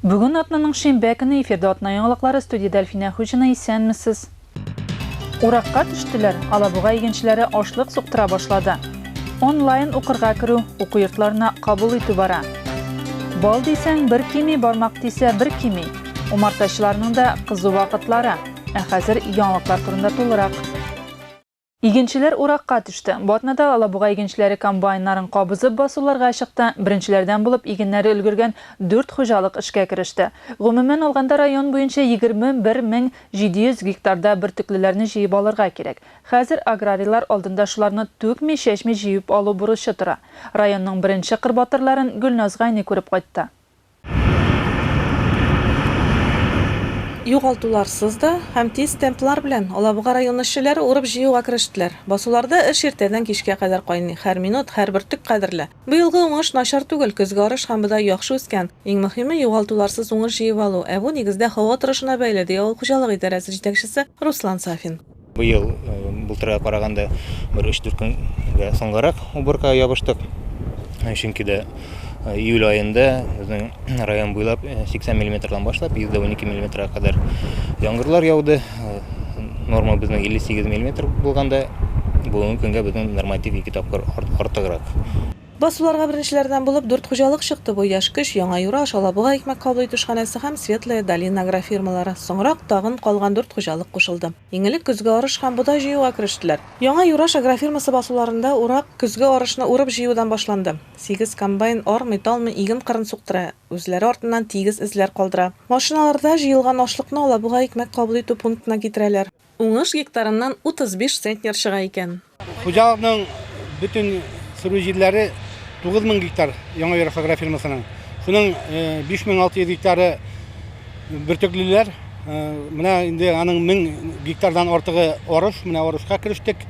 Бүген атнаның шимбә көне эфирда атна яңалыклары студиядә Әлфинә Хуҗина исәнмесез. Уракка төштеләр, Алабуга игенчеләре ашлык суктыра башлады. Онлайн укырга керү, уку йортларына кабул итү бара. Бал дисәң, бер кими, бармак тисә, бер кими. Умартачыларның да кызу вакытлары. Ә хәзер яңалыклар турында тулырак. Игенчеләр уракка төште. Бу атнада Алабуга игенчеләре комбайннарын кабызып басуларга чыкты. Беренчеләрдән булып игеннәре өлгергән дүрт хуҗалык эшкә кереште. Гомумән алганда район буенча егерме бер мең җиде йөз гектарда бөртеклеләрне җыеп алырга кирәк. Хәзер аграрийлар алдында шуларны түкми-чәчми җыеп алу бурычы тора. Районның беренче кыр батырларын Гөлназ Гайни күреп кайтты. Югалтуларсыз да һәм тиз темплар белән Алабуга районы эшчеләре урып-җыюга керештеләр. Басуларда эш иртәдән кичкә кадәр кайный, һәр минут, һәр бөртек кадерле. Быелгы уңыш начар түгел, көзге арыш һәм бодай яхшы үскән. Иң мөһиме, югалтуларсыз уңыш җыеп алу, ә бу, нигездә, һава торышына бәйле, ди авыл хуҗалыгы идарәсе җитәкчесе Руслан Сафин. Быел былтырга караганда бер 3-4 көнгә соңгарак уборкага ябыштык. Чөнки дә июль аенда безнең район буйлап 80 миллиметрдан башлап 112 миллиметрга кадәр яңгырлар яуды. Норма безнең 58 миллиметр булганда, бүгенге көнгә безнең норматив ике тапкыр артыграк. Басуларга беренчеләрдән булып дүрт хуҗалык чыкты, бу Яшь көч, Яңа Юра, аша Алабуга икмәк кабул итү эшханәсе һәм Светлая долина агрофирмалары. Соңрак тагын калган дүрт хуҗалык кушылды. Иң элек көзге арыш һәм бодай җыюга керештеләр. Яңа Юраш агрофирмасы басуларында урак, көзге арышны урып-җыюдан башланды. Сигез комбайн армый-талмый иген кырын суктыра, үзләре артыннан тигез эзләр калдыра. Машиналарда җыелган ашлыкны Алабуга икмәк кабул итү пунктына китерәләр. Уңыш гектарыннан 35 центнер чыга икән. Хуҗалыкның бөтен сөрү җирләре 9000 гектар Яңа Йөрәк агрофирмасының. Шуның 5600 гектары бөртеклеләр. Менә инде аның 1000 гектардан артыгы арыш. Менә арышка керештек.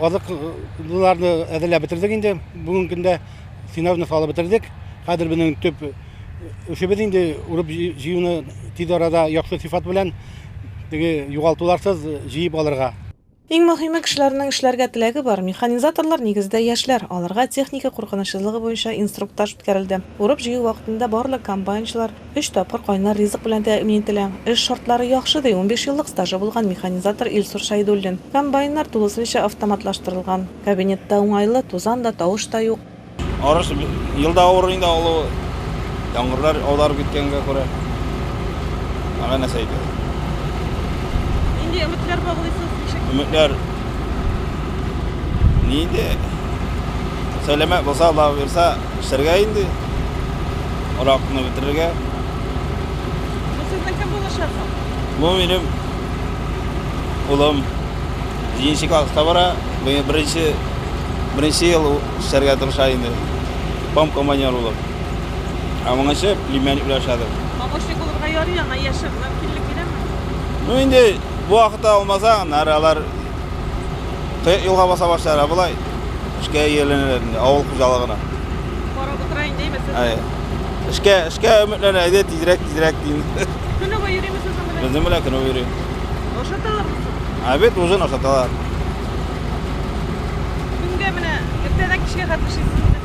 Азыклыларны әзерләп бетердек инде. Бүгенге көндә сенажны салып бетердек. Хәзер безнең төп эшебез инде урып җыюны тиз арада яхшы сыйфат белән Теге югалтуларсыз җыеп алырга. Иң мөһиме, кешеләрнең эшләргә теләге бар. Механизаторлар, нигездә, яшьләр. Аларга техника куркынычсызлыгы буенча инструктаж үткәрелде. Урып-җыю вакытында барлык комбайнчылар өч тапкыр кайнар ризык белән тәэмин ителә. Эш шартлары яхшы, ди унбиш еллык стажы булган механизатор Илсур Шәйдуллин. Комбайннар тулысынча автоматлаштырылган. Кабинетта уңайлы, тузан да, тавыш та юк. Арыш елда авыр инде алу, яңгырлар аударып киткәнгә күрә. Ага нәрсә әйтә. Нинди өметләр баглыйсыз? Ничек? Өметләр ни инде? Сәламәт булса, Алла бирса, эшләргә инде. Уракны бетерергә. Бу сезнең кем булачак? Бу минем улым. Җиденче класста бара. Быел беренче беренче ел ул эшләргә тырыша инде. Пом командир булып. Ә моңынчы племянник белән эшләдем. Помощник булырга ярый аңа яше мөмкинлек бирәме? Ну инде бу вакытта алмаса, аннары алар кыек юлга баса башлар, а болай эшкә ияләнәләр инде, авыл хуҗалыгына. Карап утыра инде әйме сез? Әйе. Эшкә, эшкә өметләнә, әйдә тизрәк, тизрәк дим. Көне буе йөримесез аның белән? Безнең белән көне буе йөри. Ашаталар. Обед ужин ашаталар. Көнгә менә иртәдән кичкә хәтле эшлисезме?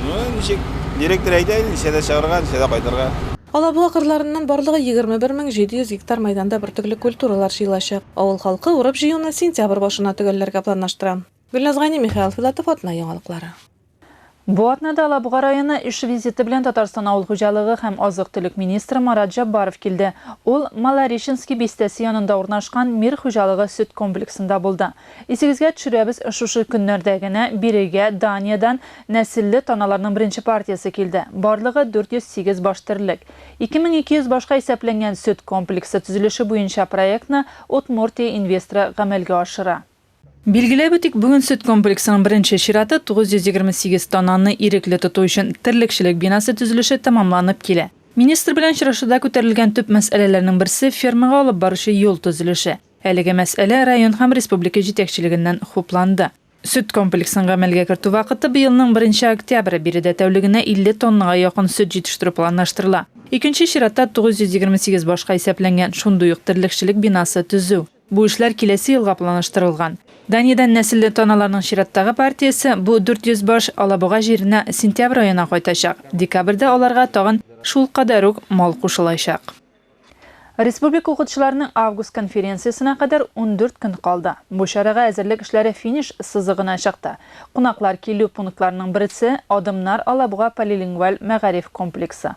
Ну, ничек? Директор әйтә инде, ничәдә чыгарга, ничәдә кайтырга. Алабуга кырларыннан барлыгы 21700 гектар мәйданда бөртекле культуралар җыелачак. Авыл халкы урып-җыюны сентябрь башына төгәлләргә планлаштыра. Гөлназ Гайни, Михаил Филатов, Атна яңалыклары. Бу атнада Алабуга районы эш визиты белән Татарстан авыл хуҗалыгы һәм азык-төлек министры Марат Җаббаров килде. Ул Малореченски бистәсе янында урнашкан Мир хуҗалыгы сөт комплексында булды. Исегезгә төшерәбез, шушы көннәрдә генә бирегә Даниядән нәселле таналарның беренче партиясе килде. Барлыгы 408 баш терлек. 2200 башка исәпләнгән сөт комплексы төзелеше буенча проектны Удмуртия инвесторы гамәлгә ашыра. Билгеләп үтик, бүген сөт комплексының беренче чираты, 928 тоннаны ирекле тоту өчен терлекчелек бинасы төзелеше тәмамланып килә. Министр белән очрашуда күтәрелгән төп мәсьәләләрнең берсе, фермага алып баручы юл төзелеше. Әлеге мәсьәлә район һәм республика җитәкчелегеннән хупланды. Сөт комплексын гамәлгә кертү вакыты быелның беренче октябре, биредә тәүлегенә 50 тоннага якын сөт җитештерү планлаштырыла. Икенче чиратта, 928 башка исәпләнгән, шундый ук терлекчелек бинасы төзү. Бу эшләр киләсе елга планлаштырылган. Даниядән нәселле таналарның чираттагы партиясе, бу 400 баш, Алабуга җиренә сентябрь аена кайтачак. Декабрьдә аларга тагын шул кадәр үк мал кушылачак. Республика укытучыларының август конференциясенә кадәр ундүрт көн калды. Бу чарага әзерлек эшләре финиш сызыгына чыкты. Кунаклар килү пунктларының берсе, Адымнар Алабуга полилингваль мәгариф комплексы.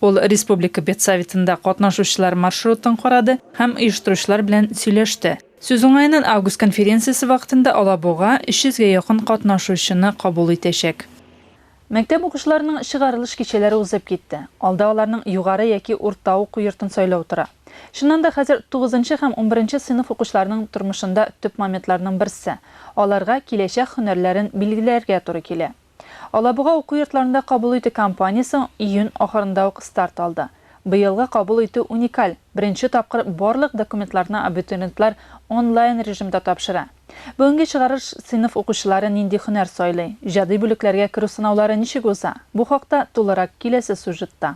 Ул республика педсоветында катнашучылар маршрутын карады һәм оештыручылар белән сөйләште. Сүз уңаеннан, август конференциясе вакытында Алабуга 300 гә якын катнашучыны кабул итәчәк. Мәктәп укучыларының чыгарылыш кичәләре узып китте. Алда аларның югары яки урта уку йортын сайлау тора. Чыннан да, хәзер тугызынчы һәм унберенче сыйныф укучыларының тормышында төп моментларның берсе, аларга киләчәк һөнәрләрен билгеләргә туры килә. Алабуга уку йортларында кабул итү кампаниясе июнь ахырында ук старт алды. Быелгы кабул итү уникаль, беренче тапкыр барлык документларны абитуриентлар онлайн режимда тапшыра. Бүгенге чыгарыш сыйныф укучылары нинди һөнәр сайлый, иҗади бүлекләргә керү сынаулары ничек уза, бу хакта тулырак киләсе сюжетта.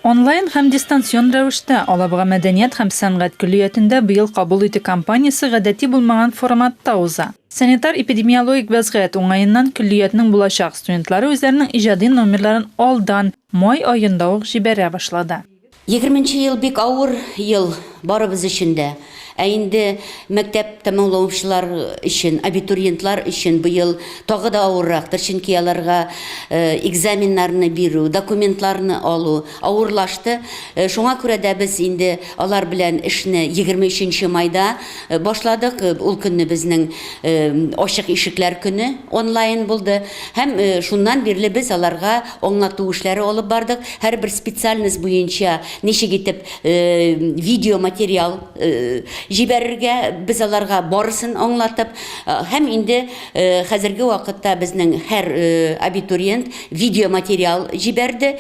Онлайн һәм дистанцион рәвештә Алабуга мәдәният һәм сәнгать көллиятендә быел Кабул итү кампаниясе гадәти булмаган форматта уза. Санитар-эпидемиологик вәзгыять уңаеннан көллиятнең булачак студентлары үзләренең иҗади номерларын алдан, май аенда ук җибәрә башлады. Егерменче ел бик авыр ел барыбыз өчен дә. Ә инде мәктәп тәмамлаучылар өчен, абитуриентлар өчен быел тагы да авыррактыр, чөнки аларга экзаменнарны бирү, документларны алу авырлашты. Шуңа күрә дә без инде алар белән эшне егерме өченче майда башладык. Ул көнне безнең Ачык ишекләр көне онлайн булды һәм шуннан бирле без аларга Аңлату эшләре алып бардык. Һәрбер специальность буенча ничек итеп видео материал җибәрергә, без аларга барысын аңлатып, һәм инде хәзерге вакытта безнең һәр абитуриент видео материал җибәрде,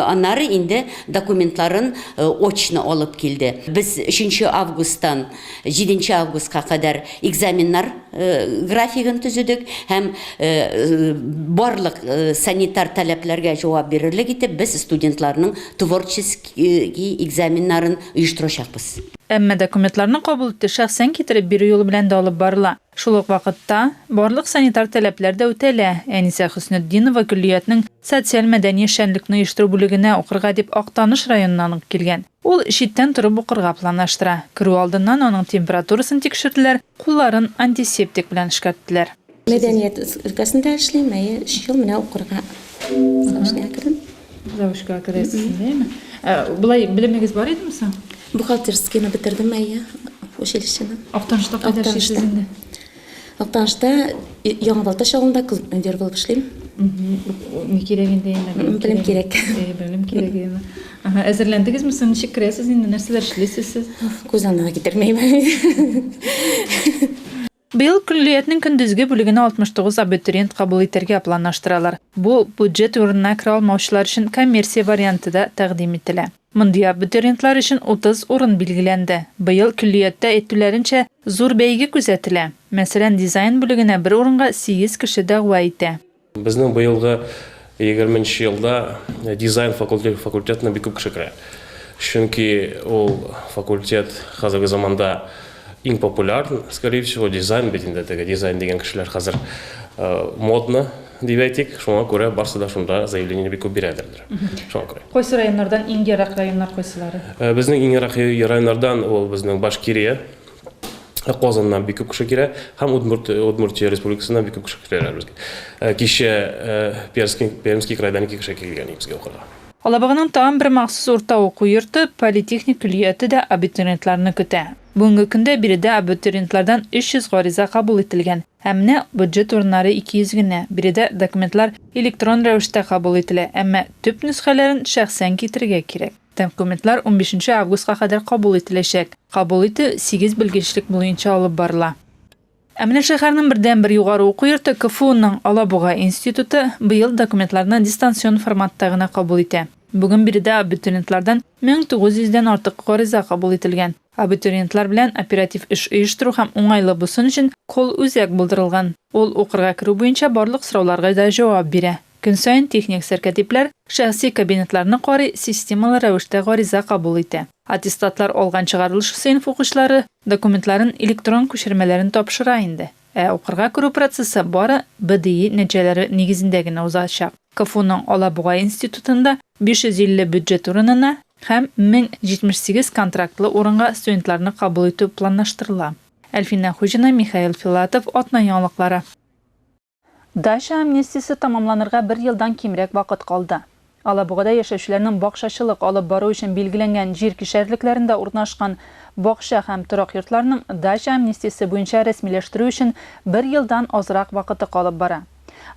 аннары инде документларын очно алып килде. Без 3 нче августтан Җиденче августка кадәр экзаменнар графигын төзедек һәм барлык санитар таләпләргә җавап бирерлек итеп без студентларның творческий экзаменнарын оештырачакбыз. Әмма документларны кабул итү шәхсән китереп бирү юлы белән дә алып барыла. Шул ук вакытта, барлык санитар таләпләр дә үтәлә. Әнисә Хөснетдинова көллиятнең социаль-мәдәни эшчәнлекне оештыру бүлегенә укырга дип Актаныш районыннан ук килгән. Ул читтән торып укырга планлаштыра. Керү алдыннан аның температурасын тикшерделәр, кулларын антисептик белән эшкәрттеләр. Мәдәният өлкәсендә эшлим, әйе, өч ел менә укырга заочныйга кердем. Заочка керәсез, әйеме? Болай белемегез бар идеме соң? Бухгалтерскийны бетердем, әйе, училищены. Актанышта кайда эшлисез инде? Актанышта Яңа Балтач авылында клуб-мөдир булып эшлим. Ни кирәк инде инде? Белем кирәк. Белем кирәк инде. Ага, әзерләндегезме соң? Ничек керәсез инде? Нәрсәләр эшлисез сез? Күз аңына китермәйм. Быел көллиятнең көндезге бүлегенә 69 абитуриент кабул итәргә планлаштыралар. Бу бюджет урынына керә алмаучылар өчен коммерция варианты да тәкъдим ителә. Мондый абитуриентлар өчен 30 урын билгеләнде. Быел, көллияттә әйтүләренчә, зур бәйге күзәтелә. Мәсәлән, дизайн бүлегенә бер урынга сигез кеше дәгъва итә. Безнең быелгы егерме нче елда дизайн факультетына бик күп кеше керә. Чөнки ул факультет хәзерге заманда иң популяр, скорее всего, дизайн бит инде, теге дизайн дигән кешеләр хәзер модно, дип әйтик. Шуңа күрә барсы да шунда заявление бик күп бирәдер. шуңа күрә кайсы районнардан иң ерак районнар кайсылары э, безнең иң ерак районнардан ул безнең башкирия э, Казаннан бик күп кеше килә һәм Удмурт, э, Удмуртия республикасыннан бик күп кеше киләләр безгә. Кичә Пермский, Пермский крайдан ике кеше килгән безгә укырга. Алабаганың тагын бер махсус урта уку йорты, политехник көллияте дә абитуриентларны көтә. Бүгенге көндә биредә абитуриентлардан 300 гариза кабул ителгән. Ә менә бюджет урыннары 200 генә. Биредә документлар электрон рәвештә кабул ителә, әмма төп нөсхәләрен шәхсән китерергә кирәк. Документлар унбишенче августка кадәр кабул ителәчәк. Кабул итү сигез белгечлек буенча алып барыла. Ә менә шәһәрнең бердәнбер югары уку йорты, КФУның Алабуга институты быел документларны дистанцион форматта гына кабул итә. Бүген биредә абитуриентлардан 1900 дән артык гариза кабул ителгән. Абитуриентлар белән оператив эш оештыру һәм уңайлы булсын өчен колл үзәк булдырылган. Ул укырга керү буенча барлык сорауларга да җавап бирә. Көн саен техник сәркәтипләр шәхси кабинетларны карый, системалы рәвештә гариза кабул итә. Аттестатлар алган чыгарылыш сыйныф укучылары документларын электрон күчермәләрен тапшыра инде. Ә укырга керү процессы бары БДИ нәтиҗәләре нигезендә генә узачак. КФУның Алабуга институтында 550 бюджет урынына һәм 1078 контрактлы урынга студентларны кабул итү планлаштырыла. Әлфинә Хуҗина, Михаил Филатов, Атна яңалыклары. Дача амнистиясе тәмамланырга бер елдан кимрәк вакыт калды. Алабугада яшәүчеләрнең бакчачылык алып бару өчен билгеләнгән җир кишәрлекләрендә урнашкан бакча һәм торак йортларның дача амнистиясе буенча рәсмиләштерү өчен бер елдан азрак вакыты калып бара.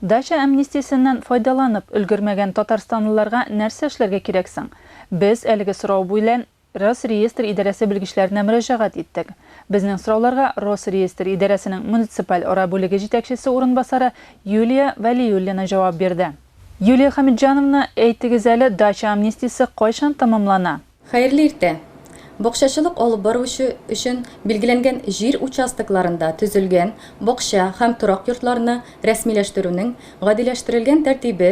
Дача амнистиясеннән файдаланып өлгермәгән татарстанлыларга нәрсә эшләргә кирәк соң? Без әлеге сорау буйлән Росреестр идарәсе белгечләренә мөрәҗәгать иттек. Безнең сорауларга Росреестр идарәсенең муниципаль ара бүлеге җитәкчесе урынбасары Юлия Вәлиуллина җавап бирде. Юлия Хәмитҗановна, әйтегез әле, дача амнистиясе кайчан тәмамлана? Хәерле иртә! Бакчачылык алып баручы өчен билгеләнгән җир участокларында төзелгән бакча һәм торак йортларны рәсмиләштерүнең гадиләштерелгән тәртибе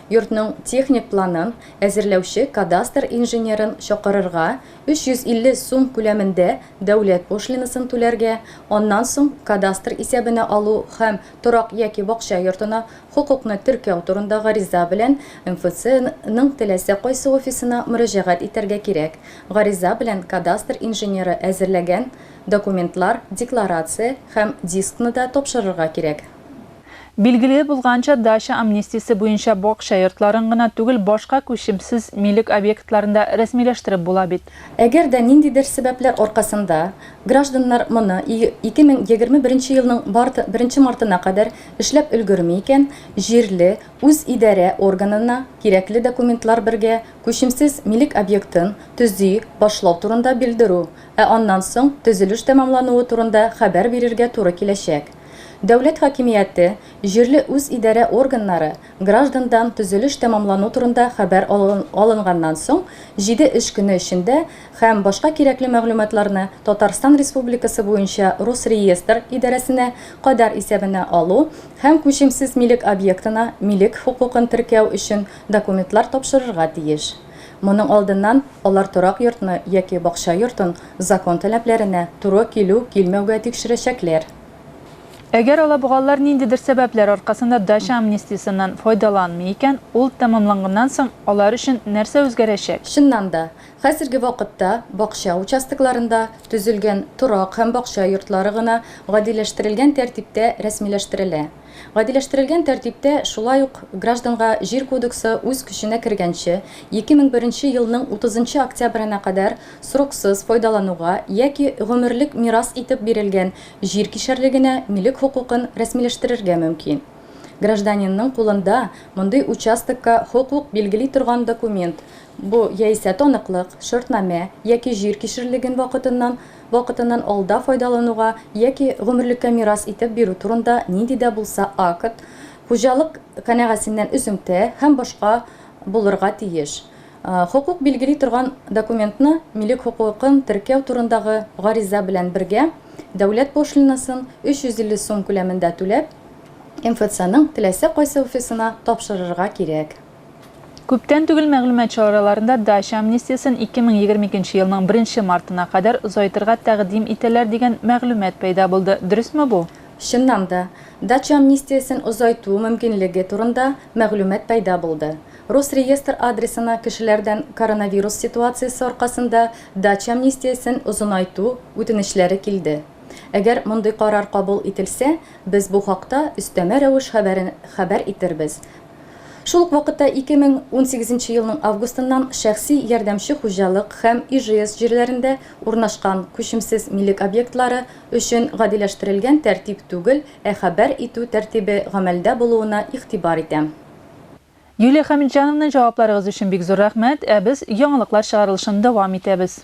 Йортның техник планын әзерләүче кадастр инженерын чакырырга, 350 сум күләмендә дәүләт пошлинасын түләргә, аннан соң кадастр исәбенә алу һәм торак яки бакча йортына хокукны теркәү турында гариза белән МФЦ ның теләсә кайсы офисына мөрәҗәгать итәргә кирәк. Гариза белән кадастр инженеры әзерләгән документлар, декларация һәм дискны да тапшырырга кирәк. Билгеле булганча, дача амнистиясе буенча бакча йортларын гына түгел, башка күчемсез милек объектларын да рәсмиләштереп була бит. Әгәр дә ниндидер сәбәпләр аркасында гражданнар моны 2021 елның марты, беренче мартына кадәр эшләп өлгерми икән, җирле үзидарә органына кирәкле документлар бергә күчемсез милек объектын төзи башлау турында белдерү, ә аннан соң төзелеш тәмамлануы турында хәбәр бирергә туры киләчәк. Дәүләт хакимияте, җирле үзидарә органнары граждандан төзелеш тәмамлану турында хәбәр алынганнан соң җиде эш көне эчендә һәм башка кирәкле мәгълүматларны Татарстан Республикасы буенча Росреестр идарәсенә кадәр исәбенә алу һәм күчемсез милек объектына милек хокукын теркәү өчен документлар тапшырырга тиеш. Моның алдыннан алар торак йортны яки бакча йортын закон таләпләренә туры килү-килмәүгә тикшерәчәкләр. Әгәр алабугалылар ниндидер сәбәпләр аркасында дача амнистиясеннән файдаланмый икән, ул тәмамланганнан соң алар өчен нәрсә үзгәрәчәк? Чыннан да, хәзерге вакытта бакча участокларында төзелгән торак һәм бакча йортлары гына гадиләштерелгән тәртиптә рәсмиләштерелә. Гадиләштерелгән тәртиптә шулай ук гражданга Җир кодексы үз көченә кергәнче, 2001 елның 30 октябренә кадәр сроксыз файдалануга яки гомерлек мирас итеп бирелгән җир кишәрлегенә милек хокукын рәсмиләштерергә мөмкин. Гражданинның кулында мондый участокка хокук билгели торган документ, бу яисә таныклык, шартнамә яки җир кишерлеген вакытыннан вакытыннан алда файдалануга яки гомерлеккә мирас итеп бирү турында нинди дә булса акт, хуҗалык канәгасеннән өзеңтә һәм башка булырга тиеш. Хокук билгели торган документны милек хокукын теркәү турындагы гариза белән бергә дәүләт пошлинасын 350 сум күләмендә түләп, МФЦның теләсә кайсы офисына тапшырырга кирәк. Күптән түгел мәгълүмат чараларында дача амнистиясен 2022 елның беренче мартына кадәр озайтырга тәкъдим итәләр дигән мәгълүмат пәйда булды. Дөресме бу? Чыннан да, дача амнистиясен озайту мөмкинлеге турында мәгълүмат пәйда булды. Росреестр адресына кешеләрдән коронавирус ситуациясе аркасында дача амнистиясен озынайту үтенечләре килде. Әгәр мондый карар кабул ителсә, без бу хакта өстәмә рәвеш хәбәрен хәбәр итербез. Шул ук вакытта 2018 елның августыннан шәхси ярдәмче хуҗалык һәм ижс җирләрендә урнашкан күчемсез милек объектлары өчен гадиләштерелгән тәртип түгел, ә хәбәр итү тәртибе гамәлдә булуына игътибар итәм. Юлия Хәмитҗановна, җавапларыгыз өчен бик зур рәхмәт, ә без яңалыклар чыгарылышын дәвам итәбез.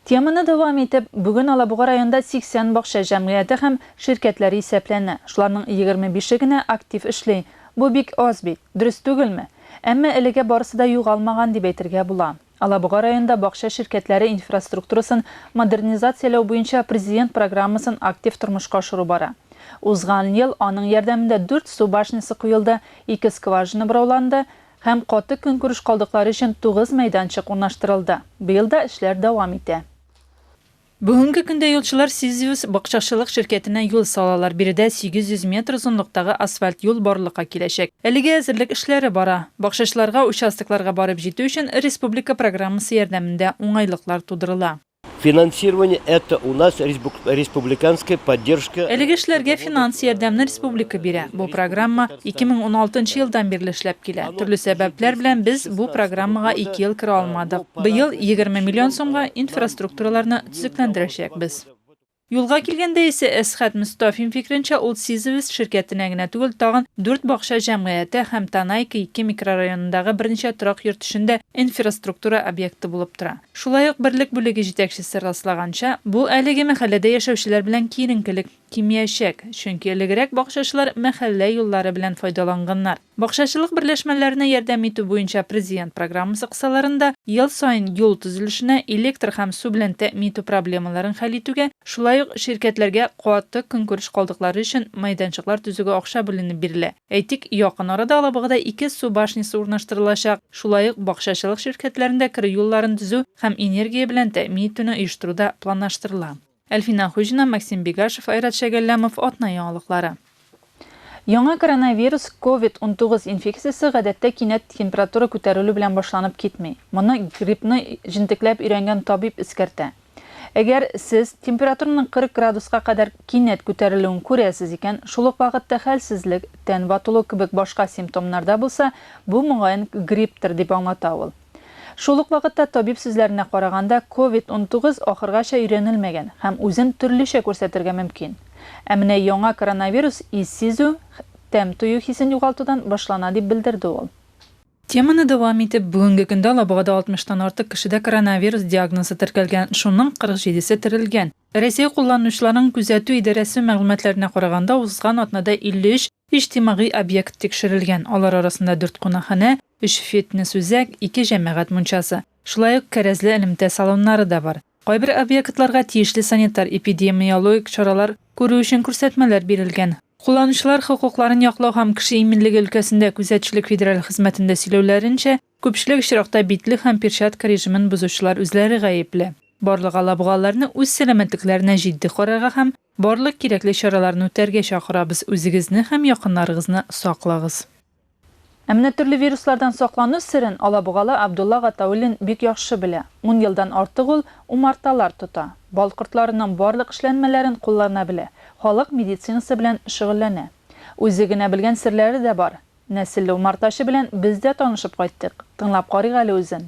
Теманы дәвам итеп, бүген Алабуга районында 80 бакча җәмгыяте һәм ширкәтләре исәпләнә. Шуларның егерме бише генә актив эшли. Бу бик аз бит, дөрес түгелме? Әмма әлегә барысы да югалмаган дип әйтергә була. Алабуга районында бакча ширкәтләре инфраструктурасын модернизацияләү буенча Президент программасын актив тормышка ашыру бара. Узган ел аның ярдәмендә дүрт су башнясы куелды, ике скважина борауланды, һәм каты көнкүреш калдыклары өчен тугыз мәйданчык урнаштырылды. Быел да эшләр дәвам итә. Бүгенге көндә юлчылар Сизиус бакчачылык ширкәтенә юл салалар, биредә 800 метр озынлыктагы асфальт юл барлыкка киләчәк. Әлегә әзерлек эшләре бара. Бакчачыларга участокларга барып җитү өчен республика программасы ярдәмендә уңайлыклар тудырыла. Финансирование это у нас республиканская поддержка. Әлеге эшләргә финанс ярдәмне республика бирә. Бу программа 2016 елдан бирле эшләп килә. Төрле сәбәпләр белән без бу программага ике ел керә алмадык. Быел 20 миллион сумга инфраструктураларны төзекләндерәчәкбез. Юлга килгәндә исә, Әсхәт Мостафин фикеренчә, ул Сизевес ширкәтенә генә түгел, тагын дүрт бакча җәмгыяте һәм Танайка ике микрорайонындагы берничә торак йорт өчен дә инфраструктура объекты булып тора. Шулай ук берлек бүлеге җитәкчесе раслаганча, бу әлеге мәхәлләдә яшәүчеләр белән киеренкелек кимиячәк, чөнки элегрәк бакчачылар мәхәллә юллары белән файдаланганнар. Бакчачылык берләшмәләренә ярдәм итү буенча Президент программасы кысаларында ел саен юл төзелешенә, электр һәм су белән тәэмин итү проблемаларын хәл итүгә, шулай ук ширкәтләргә каты көнкүреш калдыклары өчен мәйданчыклар төзүгә акча бүленеп бирелә. Әйтик, якын арада Алабугада ике су башнясы урнаштырылачак, шулай ук бакчачылык ширкәтләрендә керү юлларын төзү һәм энергия белән тәэмин итүне оештыру да планлаштырыла. Әлфинә Хуҗина, Максим Бегашев, Айрат Шәгәлләмов, атна яңалыклары. Яңа коронавирус, ковид унтугыз инфекциясе гадәттә кинәт температура күтәрелү белән башланып китми. Моны гриппны җентекләп өйрәнгән табиб эскәртә. Әгәр сез температураның 40 градуска кадәр кинәт күтәрелүен күрәсез икән, шул ук вакытта хәлсезлек, тән ватылу кебек башка симптомнар да булса, бу, мөгаен, грипптыр, дип аңлата ул. Шул ук вакытта, табиб сүзләренә караганда, ковид-унтугыз ахыргача өйрәнелмәгән һәм үзен төрлечә күрсәтергә мөмкин. Ә менә яңа коронавирус ис сизү, тәм тою хисен югалтудан башлана, дип белдерде ул. Теманы дәвам итеп, бүгенге көндә Алабугада 60 тан артык кешедә коронавирус диагнозы теркәлгән, шуның 47 се терелгән. Рәсәй кулланучыларын күзәтү идарәсе мәгълүматларына караганда, узган атнада 53 иҗтимагый объект тикшерелгән, алар арасында дүрт кунакханә, Өч фитнес-үзәк, ике җәмәгать мунчасы, шулай ук кәрәзле элемтә салоннары да бар. Кайбер объектларга тиешле санитар-эпидемиологик чаралар күрү өчен күрсәтмәләр бирелгән. Кулланучылар хокукларын яклау һәм кеше иминлеге өлкәсендә күзәтчелек федераль хезмәтендә сөйләүләренчә, күпчелек очракта битлек һәм перчатка режимын бозучылар үзләре гаепле. Барлык алабугаларны үз сәламәтлекләренә җитди карарга һәм барлык кирәкле чараларны үтәргә чакырабыз, үзегезне һәм якыннарыгызны саклагыз. Ә менә төрле вируслардан саклану серен алабугалы Абдулла Гатауллин бик яхшы белә. Ун елдан артык ул умарталар тота, бал кортларының барлык эшләнмәләрен куллана белә, халык медицинасы белән шөгыльләнә. Үзе генә белгән серләре дә бар. Нәселле умартачы белән без дә танышып кайттык. Тыңлап карыйк әле үзен.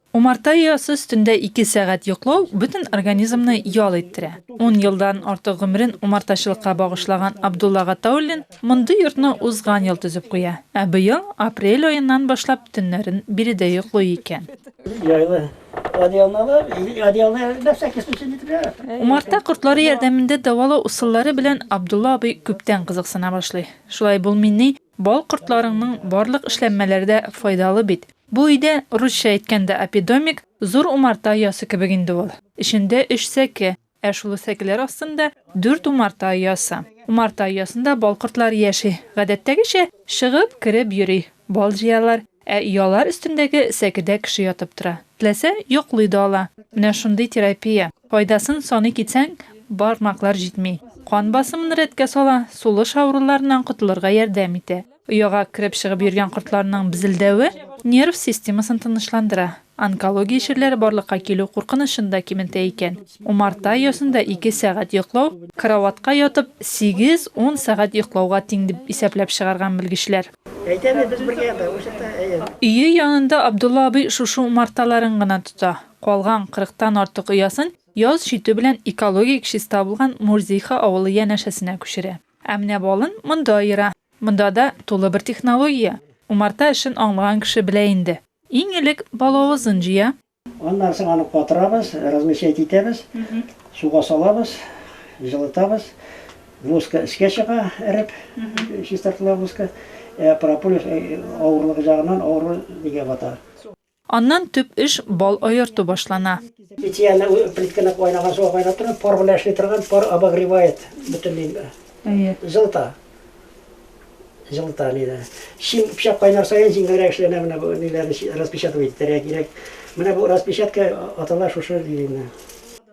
Умарта оясы өстендә ике сәгать йоклау бөтен организмны ял иттерә. Ун елдан артык гомерен умартачылыкка багышлаган Абдулла Гатауллин мондый йортны узган ел төзеп куя, ә быел апрель аеннан башлап төннәрен биредә йоклый икән. Умарта кортлары ярдәмендә дәвалау ысуллары белән Абдулла абый күптән кызыксына башлый. Шулай булмыйни, Бал кортларыңның барлык эшләнмәләре дә файдалы бит. Бу өйдә, русча әйткәндә апидомик, зур умарта оясы кебек инде ул. Эчендә өч сәке, ә шул сәкеләр астында дүрт умарта оясы. Умарта оясында бал кортлары яши, гадәттәгечә, чыгып, кереп йөри, бал җыялар. Ә оялар өстендәге сәкедә кеше ятып тора. Теләсә, йоклый да ала. Менә шундый терапия. Файдасын саный китсәң, бармаклар җитми. Кан басымын рәткә сала, сулыш авыруларыннан котылырга ярдәм итә. Ояга кереп-чыгып йөргән кортларның безелдәве нерв системасын тынычландыра. Онкология чирләре барлыкка килү куркынычын да киметә икән. Умарта оясында ике сәгать йоклау, караватка ятып, сигез-ун сәгать йоклауга тиң дип исәпләп чыгарган белгечләр. Әйтәбез, без бергә ята, ул чакта, әйе. Өе янында Абдулла абый шушы умарталарын гына тота. Калган кырыктан артык оясын яз җитү белән экологик чиста булган Мурзиха авылы янәшәсенә күчерә. Ә менә балын монда аера. Монда да тулы бер технология. Умарта эшен аңлаган кеше белә инде. Иң элек балавызын җыя. Аннан соң аны катырабыз, размещать итәбез, суга салабыз, җылытабыз. Воска өскә чыга эреп, чистартыла воска. Ә прополис авырлыгы җагыннан авыру нигә бата. Аннан төп эш бал аерту башлана. Питьяны плитканы кайнаган суга кайнап торган пар белән эшли торган пар обогревает бөтенләй җылыта. Җылыта ни дә. Чын пычак кайнар саен җиңелрәк эшләнә менә бу ниләрне распечатывать итәргә кирәк. Менә бу распечатка атала шушы линия.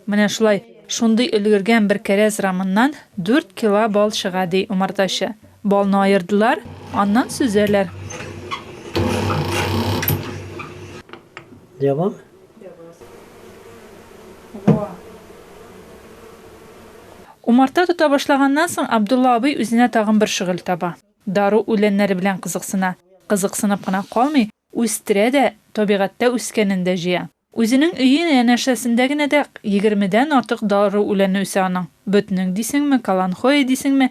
Менә шулай, шундый өлгергән бер кәрәз рамыннан дүрт кила бал чыга, ди умартачы. Балны аердылар, аннан сөзәләр. Җабам, Умарта тота башлаганнан соң Абдулла абый үзенә тагын бер шөгыль таба. Дару үләннәре белән кызыксына. Кызыксынып кына калмый, үстерә дә, табигатьтә үскәнен дә җыя. Үзенең өе янәшәсендә генә дә егермедән артык дару үләне үсә аның. Ботнең дисеңме, каланхоэ дисеңме,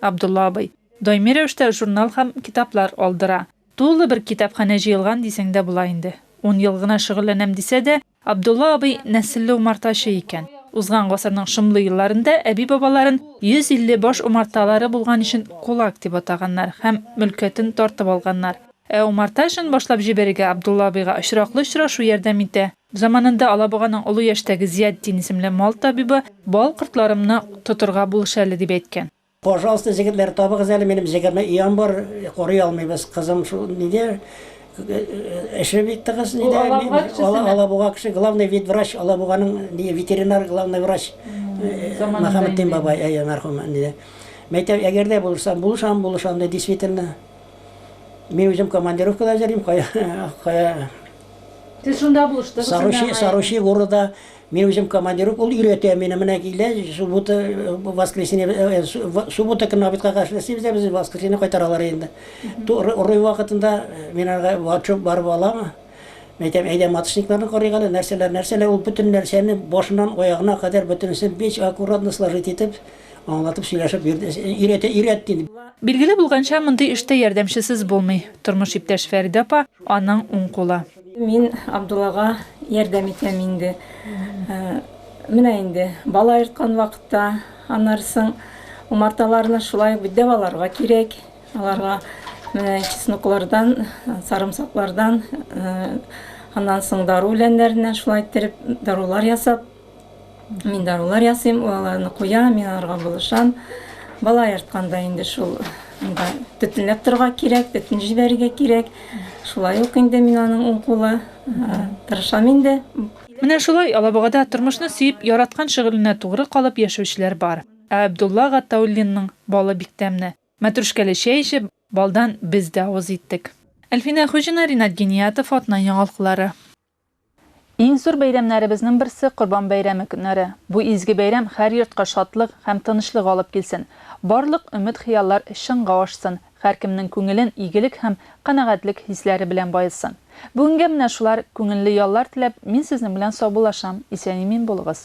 Абдулла абый. Даими рәвештә журнал һәм китаплар алдыра. Тулы бер китапханә җыелган дисәң дә була инде. Ун ел гына шөгыльләнәм дисә дә, Абдулла абый нәселле умартачы икән. Узган гасырның шомлы елларында әби-бабаларын 150 баш умарталары булган өчен кулак дип атаганнар һәм мөлкәтен тартып алганнар. Ә умарта эшен башлап җибәрергә Абдулла абыйга очраклы очрашу ярдәм итә. Заманында Алабуганың олы яшьтәге Зиятдин исемле мал табибы бал кортларымны тотырга булыш әле дип әйткән. Пожалуйста, җегетләр, табыгыз әле, минем җигерме өям бар, корый алмыйбыз, кызым шул нидә эше бит тыгыз, нидә, Ул Алабуга кешесеме? Алабуга кеше, главный ветврач, Алабуганың ни ветеринар главный врач Заманында Мөхәммәтдин инде. бабай, әйе, мәрхүм, нидә. Мәйтәм, әгәр дә булышсам, булышам, булышам, ди, действительно. Мин үзем командировкада йөрим, кая, кая, Сез шунда булыштыгыз. Саручи, Саручи города мин үзем командиров, ул өйрәтә мине, менә килә, суббота, воскресенье, суббота көнне обедка каршы эшлибез дә без воскресенье кайтаралар инде. Рой вакытында мин аңа ватшоп барып алам. Мин әйтәм, әйдә маточникларны карыйк әле, нәрсәләр, нәрсәләр, ул бөтен нәрсәне башыннан аягына кадәр бөтенесен бик аккуратно сложить итеп, Аңлатып сөйләшеп йөрде. Өйрәтә, өйрәт диде. Билгеле булганча, мондый эштә ярдәмчесез булмый. Тормыш иптәш Фәридә апа, аның уң кулы. Мин Абдуллага ярдәм итәм инде. Менә инде бала ерткан вакытта, аннары соң умарталарны шулай ук бит дәваларга кирәк. Аларга менә чесноклардан, сарымсаклардан, аннан соң дару үләннәреннән шулай иттереп дарулар ясап, Мин дарулар ясыйм, ул аларны куя, мин аларга булышам. Бала яртканда инде шул анда төтенләп торга кирәк, төтен җибәрергә кирәк. Шулай ук инде мин аның уң кулы э, тырышам инде. Менә шулай Алабугада тормышны сөеп, яраткан шөгыленә тугры калып яшәүчеләр бар. Ә Абдулла Гатауллинның балы бик тәмне. Мәтрүшкәле чәй эчеп, балдан без дә авыз иттек. Әлфинә Хуҗина, Ринат Гениятов, Атна яңалыклары. Иң зур бәйрәмнәребезнең берсе, Корбан бәйрәме көннәре. Бу изге бәйрәм һәр йортка шатлык һәм тынычлык алып килсен, барлык өмет-хыяллар чынга ашсын, һәркемнең күңелен игелек һәм канәгатьлек хисләре белән баетсын. Бүгенгә менә шулар, күңелле яллар теләп, мин сезнең белән саубуллашам, исән-имин булыгыз!